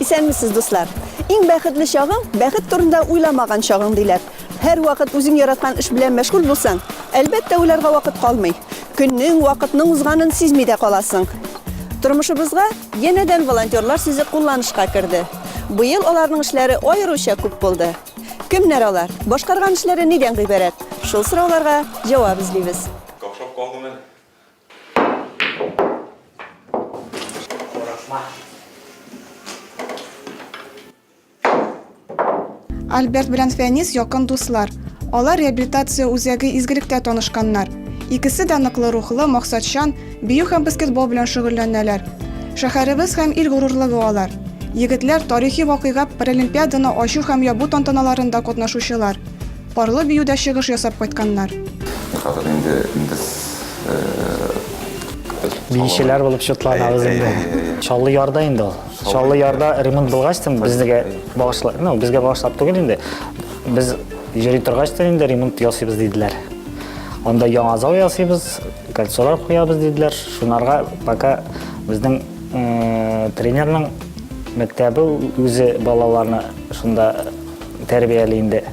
Исәнмесез, дуслар! Иң бәхетле чагың, бәхет турында уйламаган чагың, диләр. Һәрвакыт үзең яраткан эш белән мәшгуль булсаң, әлбәттә, уйларга вакыт калмый. Көннең, вакытның узганын сизми дә каласың. Тормышыбызга янәдән волонтерлар сүзе кулланышка керде. Быел аларның эшләре аеруча күп булды. Кемнәр алар, башкарган эшләре нидән гыйбарәт? Шул сорауларга җавап эзлибез. Какшап калдым әле. Альберт белән Фәнис якын дуслар. Алар реабилитация үзәге изгелектә танышканнар. Икесе дә ныклы рухлы, максатчан, бию һәм баскетбол белән шөгыльләнәләр. Шәһәребез һәм ил горурлыгы алар. Егетләр тарихи вакыйга Паралимпиаданы ачу һәм ябу тантаналарында катнашучылар. Парлы биюдә чыгыш ясап кайтканнар. Хәзер инде без. Биючеләр булып чутланабыз инде. Чаллы ярда инде ул. Чаллы ярда ремонт булгач тын безнегә багышлап, ну, безгә багышлап түгел инде. Без йөри торгач тын инде ремонт ясыйбыз диделәр. Анда яңа зал ясыйбыз, кольцолар куябыз диделәр. Шунарга пока безнең тренерның мәктәбе үзе балаларны шунда тәрбияли инде.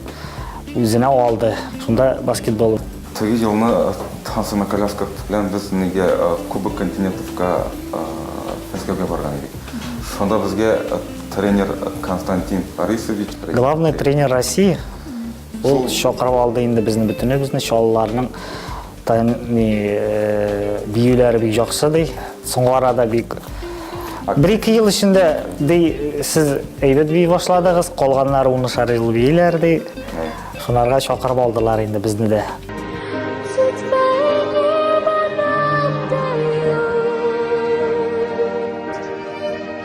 Үзенә алды. Шунда баскетбол. Теге елны Хансына коляска белән без нигә Кубок континентовка Мәскәүгә барган идек. Шунда безгә тренер Константин Борисович. Главный тренер России. Ул чакырып алды инде безне бөтенебезне, чаллыларның Тайм ни биюләре бик яхшы ди. Соңгы арада бик бер ике ел эчендә ди сез әйбәт бии башладыгыз, калганнары унышар ел бииләр ди. Шунарга чакырып алдылар инде безне дә.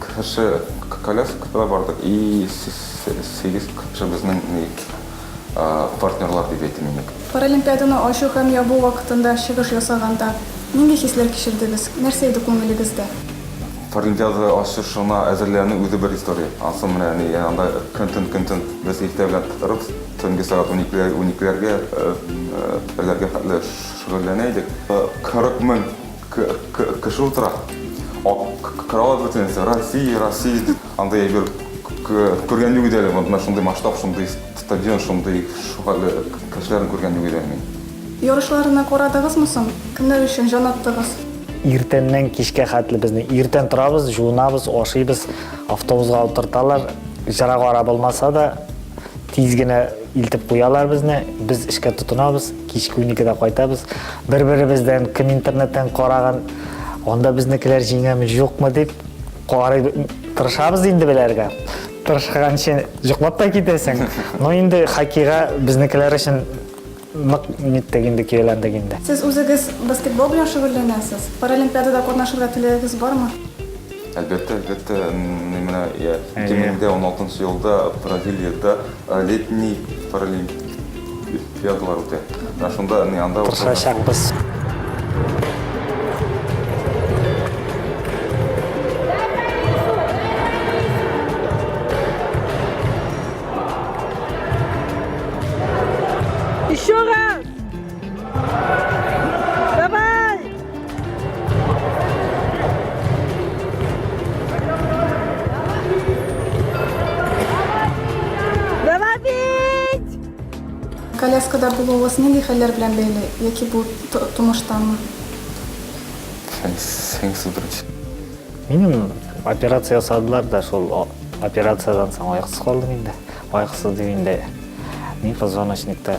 Кхшы коляскада бардык и сигез кхшы безнең ник партнерлар дип әйтим мин ник. Паралимпиаданы ачу һәм ябу вакытында чыгыш ясаганда, нинди хисләр кичердегез, нәрсә иде күңелегездә? Паралимпиада ачышына әзерләнү үзе бер история. Ансы менә ни анда көнтөн көнтөн без иртә белән торып, төнге сәгать уникеләргә, берләргә хәтле шөгыльләнә идек. 40 мең Кеше утыра. Карават бөтен нәрсә. Россия, Россия дип анда әйбер күргән юк иде әле. Монда шундый масштаб, шундый стадион, шундый шөгыльле кешеләрне күргән юк иде әле мин. Ярышларны карадыгызмы соң? Кемнәр өчен җан аттыгыз? Иртәннән кичкә хәтле безне иртән торабыз, җуынабыз, ашыйбыз, автобуска утырталар. Җыра гара булмаса да, тиз генә илтеп куялар безне. Без эшкә тотынабыз. Кичке уникедә кайтабыз. Бер-беребездән, кем интернеттан караган, анда безнекеләр җиңәме, юкмы дип карый тырышабыз инде беләргә. Тырышканчы йоклап та китәсең. Но инде хоккейга безнекеләр өчен нык ниттек инде, көяләндек инде. Сез үзегез баскетбол белән шөгыльләнәсез. Паралимпиадада катнашырга теләгегез бармы? Әлбәттә, әлбәттә, ни менә я 2016 нчы елда Бразилиядә летний паралимпиадалар үтә. Менә шунда ни анда Тырышачакбыз. Еще раз! коляскада булуыгыз нинди хәлләр белән бәйле? Яки бу тумыштамы? Минем операция ясадылар да шул операциядан соң аяксыз калдым инде. Аяксыз дигәндә мин позвоночникта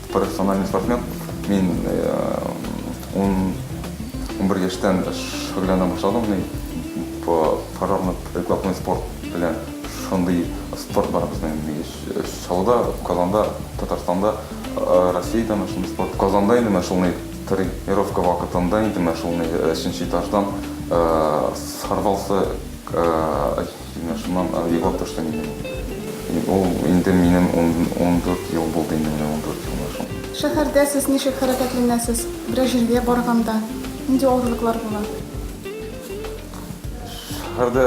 Профессиональный спортсмен. Мин унбер яшьтән шөгыльләнә башладым. Парамат прикладной спорт белән шундый спорт бар безнең Чаллыда, Казанда, Татарстанда, Россиядә менә шундый спорт. Казанда инде менә шундый тренировка вакытында инде менә шундый өченче этаждан сорвался Менә шуннан андый вак төште инде миңа. Ул инде минем ундүрт ел булды инде, менә ундүрт ел менә шул. Шәһәрдә сез ничек хәрәкәтләнәсез? Берәр җиргә барганда, нинди авырлыклар була? Шәһәрдә,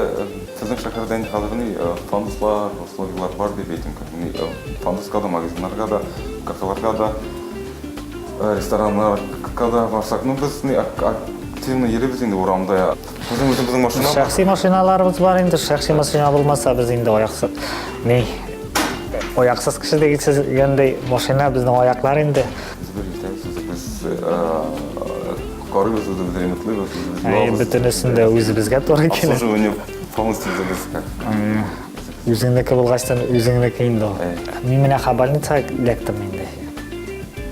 безнең шәһәрдә инде хәзер ни, пандуслар, условияләр бар дип әйтим. Ни, пандуска да, магазиннарга да, кафеларга да, рестораннарга да барсак, ну, без ни, активно йөрибез инде урамда. Безнең үзебезнең машина. Шәхси машиналарыбыз бар инде. Шәхси машина булмаса, без инде аяксыз. Ни? Аяксыз кеше дигәндәй машина безнең аяклар инде. Корыбыз үзебез ремонтлыйбыз, үзебез юабыз. Бөтенесен дә үзебезгә туры килә. Обслуживание полностью үзебезгә. Үзеңнеке булгачтан үзеңнеке инде ул. Мин менә Хабарница эләктем инде.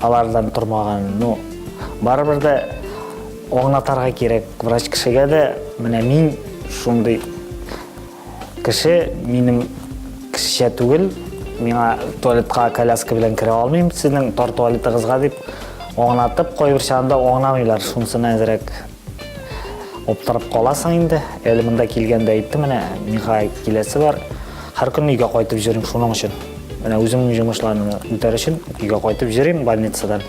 Алардан тормаган, ну, барыбер дә аңлатарга кирәк врач кешегә дә, менә мин шундый кеше, минем кешечә түгел, миңа туалетка коляска белән керә алмыйм, сезнең тар туалетыгызга дип аңлатып, кайбер чагында аңламыйлар, шунысына әзрәк Оптырып каласың инде. Әле монда килгәндә әйттем, менә миңа киләсе бар. Һәр көнне өйгә кайтып йөрим шуның өчен. Менә үземнең җомышларны үтәр өчен өйгә кайтып йөрим больницадан.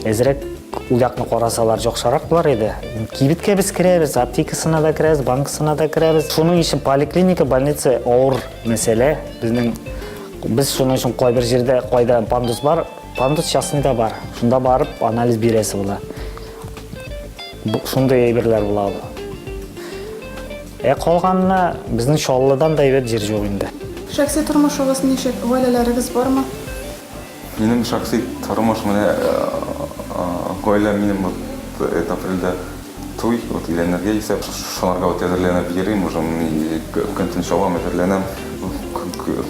Әзрәк уякны карасалар яхшырак булар иде. Кибеткә без керәбез, аптекасына да керәбез, банкасына да керәбез. Шуның өчен поликлиника, больница авыр мәсьәлә. Безнең без шуның өчен кайбер җирдә кайда пандус бар, пандус частныйда бар. Шунда барып анализ бирәсе була. Шундый әйберләр була ул. Ә калганына безнең Чаллыдан да әйбәт җир юк инде. Шәхси тормышыгыз ничек? Гаиләләрегез бармы? Минем шәхси тормыш менә гаилә минем вот это апрельдә туй, вот өйләнергә исәп, шуларга вот әзерләнеп йөрим, уже көн-төн чабам, әзерләнәм.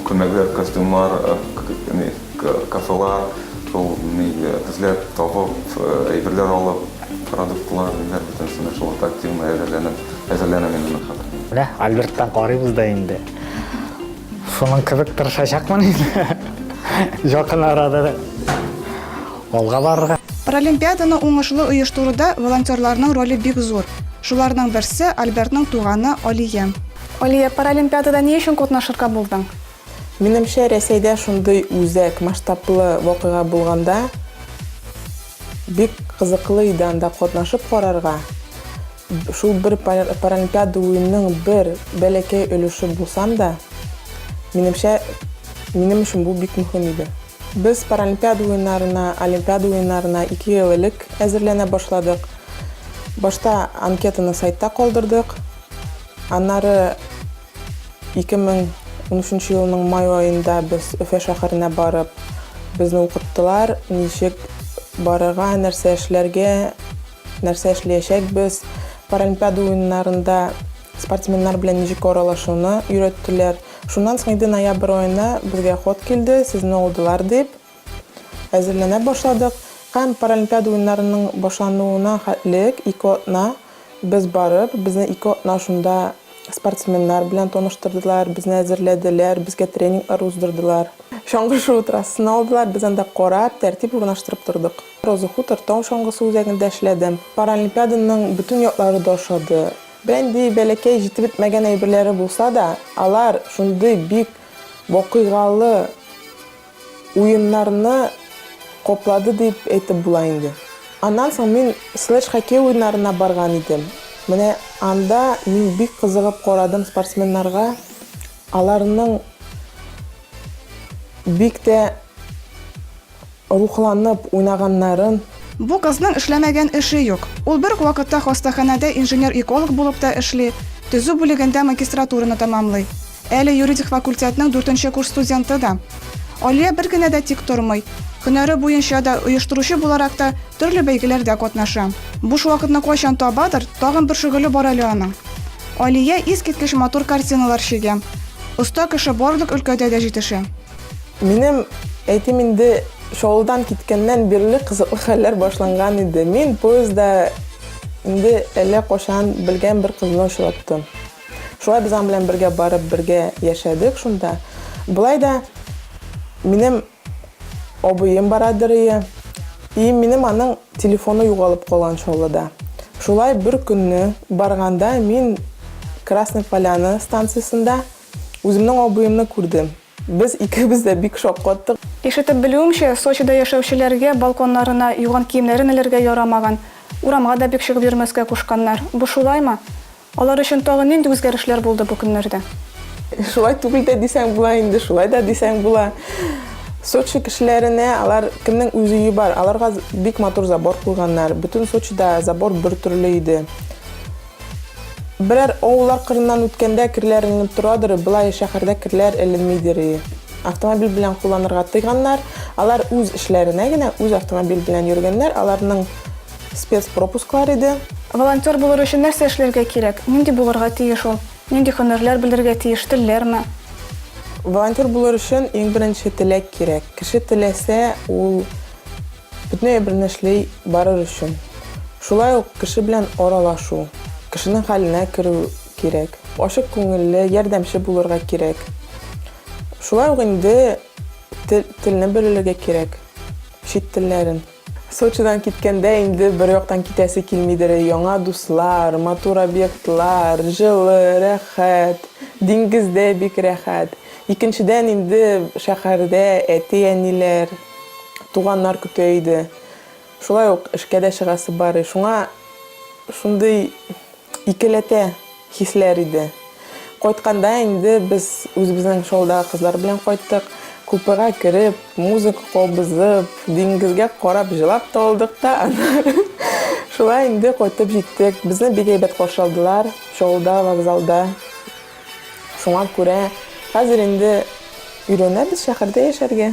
Күлмәкләр, костюмнар, Кафелар шул эзләп, табып, әйберләр алып, продуктлар, ниләр бөтенесенә шул ук активно әзерләнеп, әзерләнәм инде мин хәзер. Менә Альберттан карыйбыз да инде. Шуның кебек тырышачакмын инде якын арада алга барырга. Паралимпиаданы уңышлы оештыруда волонтерларның роле бик зур. Шуларның берсе, Альбертның туганы Алия. Алия, паралимпиадада ни өчен катнашырга булдың? Минемчә, Рәсәйдә шундый үзәк, масштаблы вакыйга булганда, бик кызыклы иде анда катнашып карарга. Шул бер Паралимпиада уенның бер бәләкәй өлеше булсам да, минемчә, минем өчен бу бик мөһим иде. Без Паралимпиада уеннарына, Олимпиада уеннарына ике ел элек әзерләнә башладык. Башта анкетаны сайтта калдырдык, аннары. 2013 елның май аенда без Өфә шәһәренә барып, безне укыттылар, ничек барырга, нәрсә эшләргә, нәрсә эшлиячәкбез, Паралимпиада уеннарында спортсменнар белән ничек аралашуны өйрәттеләр. Шуннан соң инде ноябрь аена безгә хат килде, сезне алдылар дип. Әзерләнә башладык һәм Паралимпиада уеннарының башлануына хәтлек ике атна без барып, безне ике атна шунда спортсменнар белән таныштырдылар, безне әзерләделәр, безгә тренинглар уздырдылар. Чаңгы шуу трассасын алдылар, без анда карап, тәртип урнаштырып тордык. Роза Хутор тау чаңгысы үзәгендә эшләдем. Паралимпиаданың бөтен яклары да ошады. Берәндәй бәләкәй җитеп бетмәгән әйберләре булса да, алар шундый бик вакыйгалы, Уеннарны коплады дип әйтеп була инде. Аннан соң мин слэдж-хоккей уеннарына барган идем. Менә анда мин бик кызыгып карадым спортсменнарга. Аларның бик тә рухланып уйнаганнарын. Бу кызның эшләмәгән эше юк. Ул бер үк вакытта хастаханәдә инженер-эколог булып та эшли, төзү бүлегендә магистратураны тәмамлый. Әле юридик факультетның дүртенче курс студенты да. Алия бер генә дә тик тормый. Һөнәре буенча да, оештыручы буларак та төрле бәйгеләрдә катнаша. Буш вакытны кайчан табадыр, тагын бер шөгыле бар әле аның. Алия искиткеч матур картиналар чигә. Оста кеше барлык өлкәдә дә җитешә. Минем, әйтим инде, Чаллыдан киткәннән бирле кызыклы хәлләр башланган иде. Мин поездда инде әллә кайчан белгән бер кызны очраттым. Шулай без аның белән бергә барып, бергә яшәдек шунда. Болай да минем абыем бара дөрие, и минем аның телефоны югалып калган Чаллыда. Шулай бер көнне барганда мин Красный Поляна станциясендә үземнең абыемны күрдем. Без икебез дә бик шаккаттык. Ишетеп белүемчә, Сочида яшәүчеләргә балконнарына юган киемнәрен элергә ярамаган, урамга да бик чыгып йөрмәскә кушканнар. Бу шулаймы? Алар өчен тагын нинди үзгәрешләр булды бу көннәрдә? Шулай түгел дә дисәң була инде, шулай да дисәң була. Сочи кешеләренә алар кемнең үз өе бар, аларга бик матур забор куйганнар. Бөтен Сочида забор бер төрле иде. Берәр авыллар кырыннан үткәндә керләр эленеп торадыр, болай шәһәрдә керләр эленмидер. Автомобиль белән кулланырга тыйганнар. Алар үз эшләренә генә үз автомобиль белән йөргәннәр, аларның спецпропусклар иде. Волонтер булыр өчен нәрсә эшләргә кирәк? Нинди булырга тиеш ул? Нинди һөнәрләр белергә тиеш? Телләрме? Волонтер булыр өчен иң беренче теләк кирәк. Кеше теләсә, ул бөтен әйберне эшли барыр өчен. Шулай ук кеше белән аралашу, кешенең хәленә керү кирәк. Ачык күңелле, ярдәмче булырга кирәк. Шулай ук инде телне белергә кирәк, чит телләрен. Сочидан киткәндә инде бер яктан китәсе килмидер, яңа дуслар, матур объектлар, җылы, рәхәт, диңгез дә бик рәхәт. Икенчедән инде шәһәрдә әти-әниләр, туганнар көтә иде. Шулай ук эшкә дә чыгасы бар, шуңа шундый икеләтә. Хисләр иде. Кайтканда инде без үзебезнең шоудагы кызлар белән кайттык. Купега кереп, музыка кабызып, диңгезгә карап җылап та алдык та, аннары шулай инде кайтып җиттек. Безне бик әйбәт каршы алдылар шоуда, вокзалда. Шуңа күрә хәзер инде өйрәнәбез шәһәрдә яшәргә.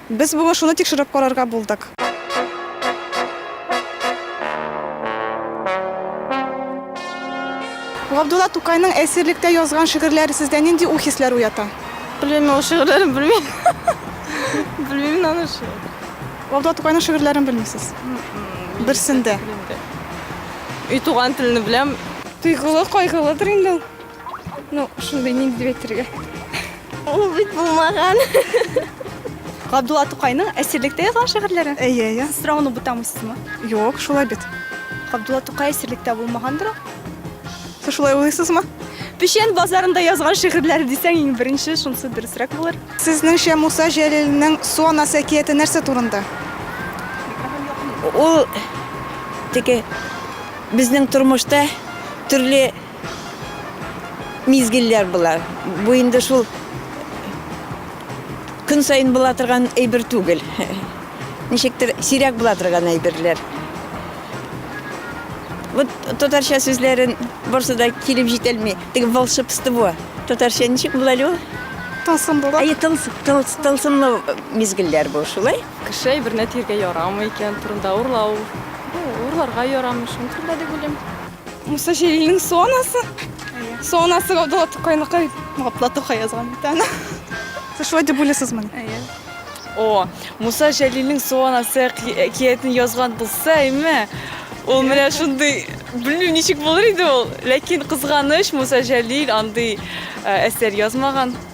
Без бүген шуны тикшереп карарга булдык. Габдулла Тукайның әсирлектә язган шигырьләре сездә нинди уй-хисләр уята? Белмим мин ул шигырьләрен белмим. Белмим мин аны ши. Габдулла Тукайның шигырьләрен белмисез? Берсен дә. Өй туган телне беләм. Тойгылы, кайгылыдыр инде ул. Ну, шундый нинди бетергә. Ул бит булмаган. Габдулла Тукайның әсирлектә язган шигырьләре? Әйе, әйе. Сез сорауны бутамыйсызмы? Юк, шулай бит. Габдулла Тукай әсирлектә булмагандыр ул? Сез шулай уйлыйсызмы? Печән базарында язган шигырьләре дисәң иң беренче, шунысы дөресрәк булыр. Сезнеңчә Муса Җәлилнең Су анасы әкияте нәрсә турында? Ул теге безнең тормышта төрле Мизгелләр болар. Бу инде шул көн саен була торган әйбер түгел. Ничектер сирәк була торган әйберләр. Вот татарча сүзләрен барсы да килеп җитәлми. Теге волшебство. Татарча ничек була әле ул? Тылсымлылык. Әйе, тылсымлы мизгелләр бу шулай. Кеше әйберне тиргә ярамый икән турында урлау. Урларга ярамый, шуның турында дип уйлыйм. Муса Җәлилнең сонасы. Сонасы Габдулла Тукайныкай. Габдулла Тукай язган бит аны. Сез шулай дип уйлыйсызмы? Әйе. О, Муса Җәлилнең сонасы әкиятен язган булса, әйме? Ул менә шундый, белмим, ничек булыр иде ул. Ләкин кызганыч, Муса Җәлил андый әсәр язмаган.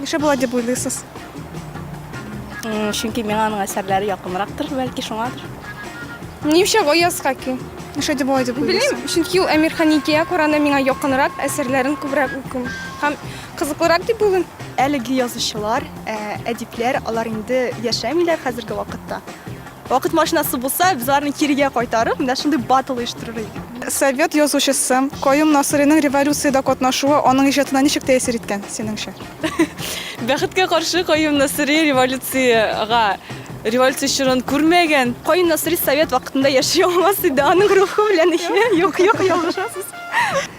Нишләп болай дип уйлыйсыз? Чөнки миңа аның әсәрләре якынрактыр, бәлки шуңадыр. Нишләп Аяз Хаки? Нишләп дип болай дип уйлыйсыз? Белмим, чөнки ул Әмир Ханикия Коранда миңа якынрак, әсәрләрен күбрәк укыйм. Һәм кызыклырак дип уйлыйм. Әлеге язучылар, әдипләр, алар инде яшәмиләр хәзерге вакытта. Вакыт машинасы булса, без аларны кирегә кайтарып, менә шундый батл оештырыр идек. Совет язучысы Каюм Насыйриның революциядә катнашуы аның иҗатына ничек тәэсир иткән, синеңчә? Бәхеткә каршы, Каюм Насыйри революциягә, революция чорын күрмәгән. Каюм Насыйри совет вакытында яши алмас иде, аның рухы белән, юк, юк, ялгышасыз.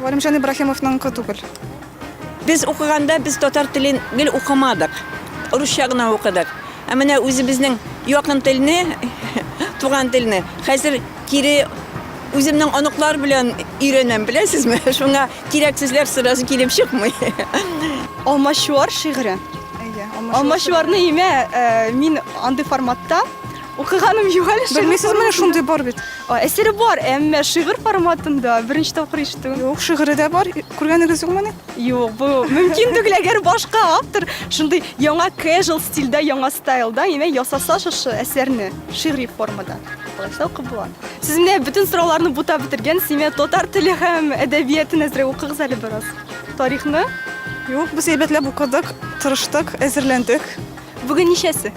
Галимҗан Ибраһимовныңкы түгел. Без укыганда без татар телен гел укымадык. Русча гына укыдык. Ә менә үзебезнең якын телне, туган телне хәзер кире үземнең оныклар белән өйрәнәм, беләсезме? Шуңа кирәк сүзләр сразу килеп чыкмый. Алмачуар шигыре. Алмачуарны имә, мин андый форматта, Укыганым юк әле. Белмисез, менә шундый бар бит. Әсәре бар, әмма шигырь форматында беренче тапкыр ишетү. Юк, шигыре дә бар. Күргәнегез юкмыни? Юк, бу мөмкин түгел, әгәр башка автор шундый яңа casual стильдә, яңа стайлда, яме ясаса шушы әсәрне шигъри формада. Булачак укып була. Сез менә бөтен сорауларны бута бетергән, симе татар теле һәм әдәбиятын әзрәк укыгыз әле бераз. Тарихны? Юк, без әйбәтләп укыдык, тырыштык, әзерләндек. Бүген ничәсе?